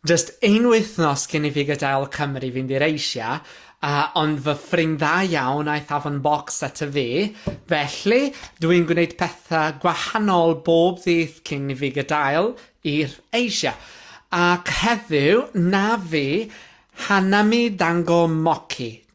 Jyst un wythnos cyn i fi gadael Cymru fynd i'r Asia, a ond fy ffrind dda iawn aeth afon bocs ato fi, felly dw i'n gwneud pethau gwahanol bob ddydd cyn i fi gadael i'r Asia. Ac heddiw, na fi, Hanami Dango Mochi,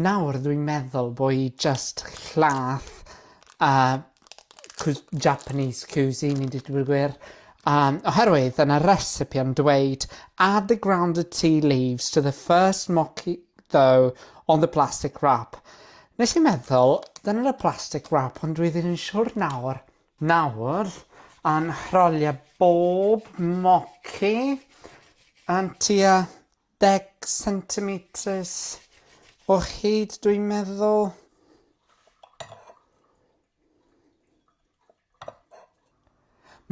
Nawr dwi'n meddwl bo i jyst llath a cw- Japanese cuisine i ddeud y gwir um, oherwydd yn y recipe yn dweud add the grounded tea leaves to the first mochi dough on the plastic wrap. Nes i meddwl, dyna y plastic wrap ond dwi ddim yn siwr nawr. Nawr, yn rholio bob mochi yn tua Deg centimetres o hyd dwi'n meddwl.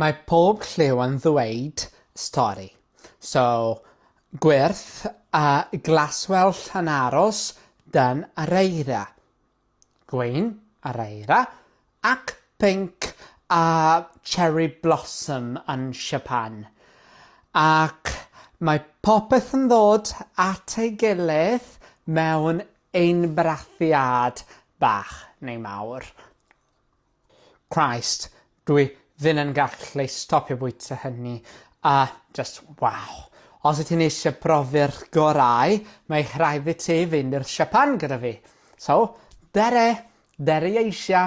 Mae pob lliw yn ddweud stori. So, gwyrth a glaswellt yn aros dan yr eira. gwyn, araera, ac pinc a cherry blossom yn Siapan, ac mae popeth yn dod at ei gilydd mewn einbrathiad bach neu mawr. Christ, dwi ddim yn gallu stopio bwyta hynny a just waw. Os wyt ti'n eisiau profi'r gorau, mae rhaid i ti fynd i'r siapan gyda fi. So, dere! Dere Asia!